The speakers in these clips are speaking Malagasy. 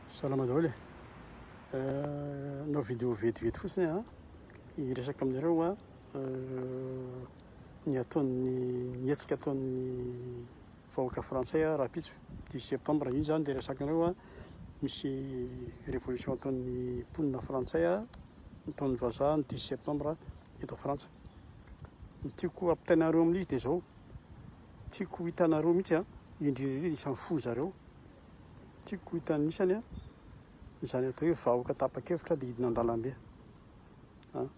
Salama daholo e! Nanao vidéo vetivety fotsiny aho hiresaka aminareo ny ataon'ny ny hetsika ataon'ny vahoaka frantsay rahampitso dix septembre. Iny izany dia resakanareo a misy révolution ataon'ny mponina frantsay ataon'ny vazaha ny dix septembre eto Frantsa. Ny tiako hampitainareo amin'izy dia izao, tiako hitanareo mihitsy indrindra indrindra isan'ny fo zareo. tiako hitanisany an, izany atao hoe vahoka tapa-kevitra dia hidina an-dalambe an,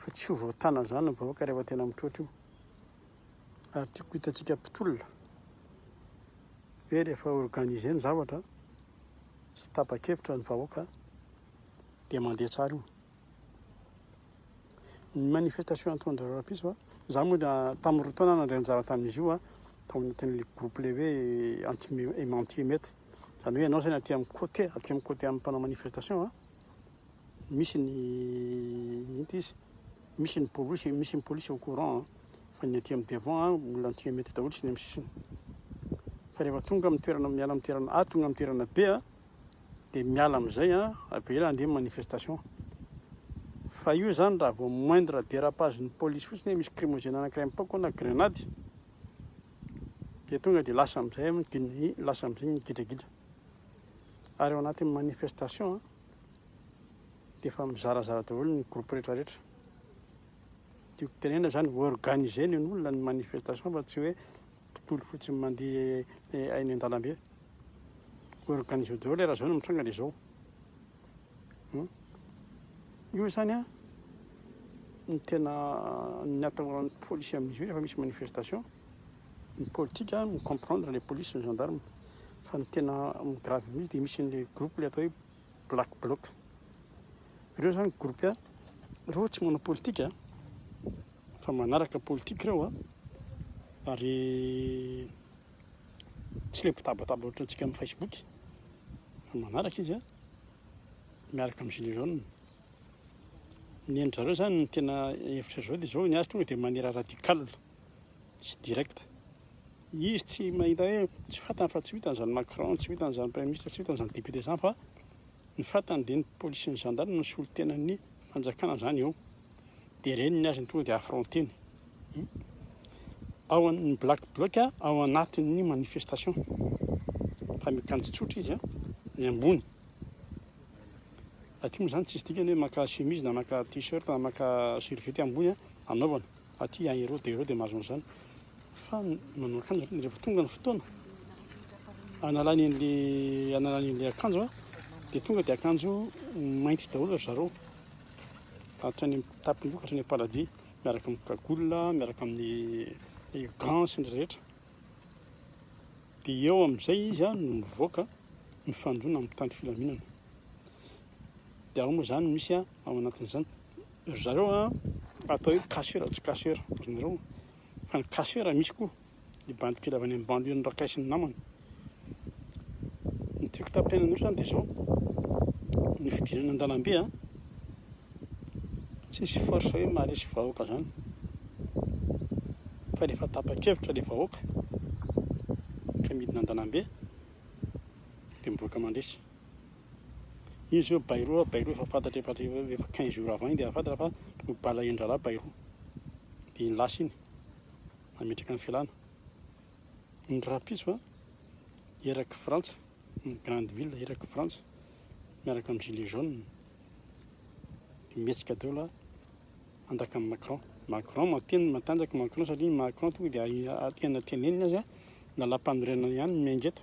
fa tsy ho voatàna izany ny vahoaka rehefa tena mitroatra io, ary tiako hitantsika mpitolona hoe rehefa organiser ny zavatra sy tapa-kevitra ny vahoaka dia mandeha tsara io. Ny manifestation ataon-dry rahampitso a, izaho moa dia tamin'ny roa taona aho nandray anjara tamin'izy io a, tao anatin'ilay groupe ilay hoe anti-aimant anti-emeute, izany hoe ianao saina aty amin'ny côté, aty amin'ny côté amin'ny mpanao manifestation a, misy ny inty izy, misy ny polisy, misy ny polisy au courant fa ny aty amin'ny devant a, olona anti-emeute daholo sy ny amin'ny sisiny. Fa rehefa tonga amin'ny toerana, miala amin'ny toerana A tonga amin'ny toerana B a, dia miala amin'izay an, avela andeha manifestation. Fa io zany raha vao moindre dérapage ny police fotsiny hoe misy crimogène anankiray mipaoka na grenady dia tonga dia lasa amin'izay ny lasa amin'izay ny gidragidra. Ary ao anatin'ny manifestation dia efa mizarazara daholo ny groupe rehetra rehetra. Tiako tenena zany organiser ny olona ny manifestation fa tsy hoe mpitondra fotsiny mandeha eny an-dalambe. Organiser daholo ilay raha izao no mitranga dia izao. Hmm? Io izany an, ny tena ny atahoran'ny polisy amin'izy io rehefa misy manifestation, ny politika mi-comprendre ilay polisy sy ny gendarme. Fa ny tena grave mihitsy dia misy an'ilay groupe ilay atao hoe Black Bloc. Ireo zany groupe roa tsy manao politika fa manaraka politika ireo ary tsy le mpitabataba ohatra antsika amin'ny Facebook fa manaraka izy miaraka amin'ny gilet jaune. Ny an-dry zareo zany ny tena hevitra zao dia zao ny azy tonga dia maniera radical. Tsy direct. Izy tsy mahita hoe tsy fantany fa tsy ho hitany izany Macron, tsy ho hitany izany Premier Ministre, tsy ho hitany izany Député izany fa ny fantany dia ny Police sy ny Gendarme no solontenan'ny fanjakana izany eo. Dia ireny ny azy no tonga dia affronteny. Hmm. Ao amin'ny Black Bloc, ao anatin'ny manifestation. Fa mikanjo tsotra izy, ny ambony. Aty moa izany tsisy dikany hoe maka chemise na maka t-shirt na maka serviette ambony anaovana. Aty à Hérode, Hérode mahazo an'izany fa manao akanjo aloha rehefa tonga ny fotoana analany an'le analany an'le akanjo a dia tonga dia akanjo mainty daholo ry zareo hatrany amin'ny tapim-boka hatrany am-paladia miaraka amin'ny cagoule miaraka amin'ny gants sy ny rehetra dia eo amin'izay izy a no mivoaka mifandona amin'ny tany filaminana dia ao moa izany misy a Fa manakon'izany, ry zareo a, atao hoe cashier tsy cashier ry nareo, fa ny cashier misy koa, ny bandy kely avy any amin'ny banlieue-n'i Rakay sy ny namany. Ny tiako tapaina anareo izany dia izao, ny fidirana an-dalambe a, tsisy force hoe maharesy vahoaka izany, fa rehefa tapa-kevitra ilay vahoaka ka midina an-dalambe dia mivoaka mandresy. Izy hoe bairo a bairo efa fantatra efa efa quinze jours avant iny dia efa fantatra fa ho balahen-drahalahy bairo. Dia iny lasa iny nametraka ny fialana. Ny rahampitso a erak'i Frantsa, ny grande ville erak'i Frantsa miaraka amin'ny gilets jaunes dia mihetsika daholo handakan'i Macron. Macron mateny matanjaka i Macron satria i Macron tonga dia tena teneniny aza lalampanorenana ihany no miainga eto.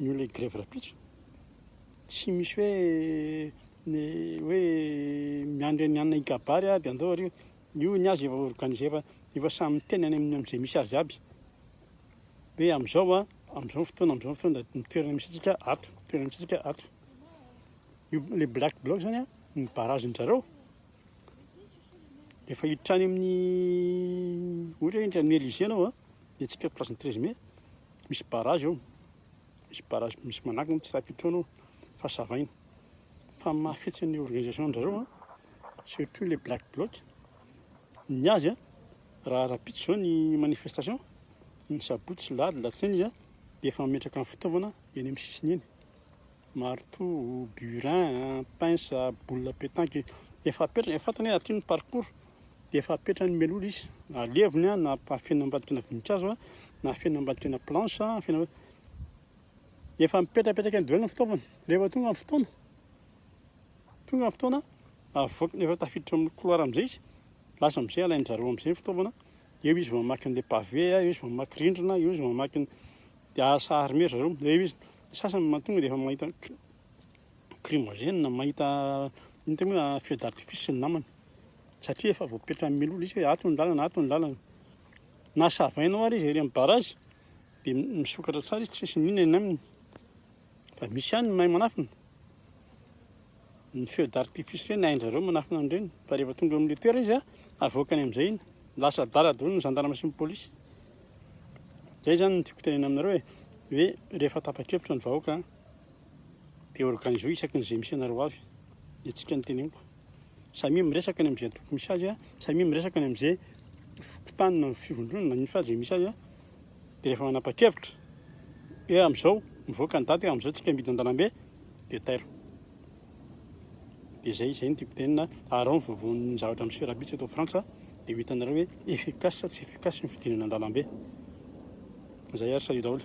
Ny olona hi-grevy rahampitso, tsy misy hoe ny hoe miandry ny anona hikabary dia andao ary io. Io ny azy efa organiser fa efa samy miteny any amin'izay misy azy aby hoe amin'izao an, amin'izao ny fotoana, amin'izao ny fotoana dia ny toerana misy antsika ato, ny toerana misy antsika ato. Io ilay black bloc izany an, ny barrage-ndry zareo efa hiditra any amin'ny, ohatra hoe hiditra any amin'ny Elysée ianao an, Dia tsy perte place ny treize mai, misy barrage eo, misy barrage misy manakona eo, tsy raha pitroana io fa savaina. Fa ny mahafetsy ny organisation-drizareo an, surtout le black bloc, ny azy an, raha rahampitso izao ny manifestation, ny sabotsy sy lahady alatsinainy izy an, dia efa mametraka ny fitaovana eny amin'ny sisiny eny, marteau, burin, pince, boule à petanque, efa apetraka, efa fantany hoe aty ny parcours. dia efa apetrany mialoha izy na levony a na afenina ambadika na voninkazo a na afenina ambadika na planche a afenina efa mipetrapetraka ny daholo ny fitaovana rehefa tonga ny fotoana tonga ny fotoana avoakana efa tafiditra amin'ny couloir amin'izay izy lasa amin'izay alain'ny zareo amin'izay ny fitaovana eo izy vao mamaky an'ilay pavé eo izy vao mamaky rindrina eo izy vao mamaky ny dia sahary mero zareo dia eo izy ny sasany mahatonga dia efa mahita Crimogène mahita iny tena hoe feu d'artifice ny namany satria efa voapetran'ny milolo izy hoe ato ny lalana ato ny lalana na savainao ary izy ery amin'ny barrage dia misokatra tsara izy tsisy mino eny aminy fa misy ihany ny mahay manafina ny feu d'artifice ireny hain-dry zareo manafina an'ireny fa rehefa tonga eo amin'ny toerana izy an avoakany amin'izay iny lasa adala daholo ny zandarma sy ny polisy izay izany no tiako tenenana aminareo hoe hoe rehefa tapa-kevitra ny vahoaka an Dia organizeo isaky ny izay misy anareo avy dia tsika ny teneniko. Samia miresaka ny amin'izay tokony misy azy, samia miresaka ny amin'izay fokontany na fivondronana ny fazy misy azy. Dia rehefa manapa-kevitra, hoe amin'izao mivoaka ny daty, amin'izao tsika midina an-dalambe, dia tairo. Dia izay, izay ny tiako tenina, arao ny vovoan'ny zavatra miseho rabitsy eto Frantsa, dia ho hitanareo hoe efficace sa tsy efficace ny fidinana an-dalambe. Izay ary salut daholo.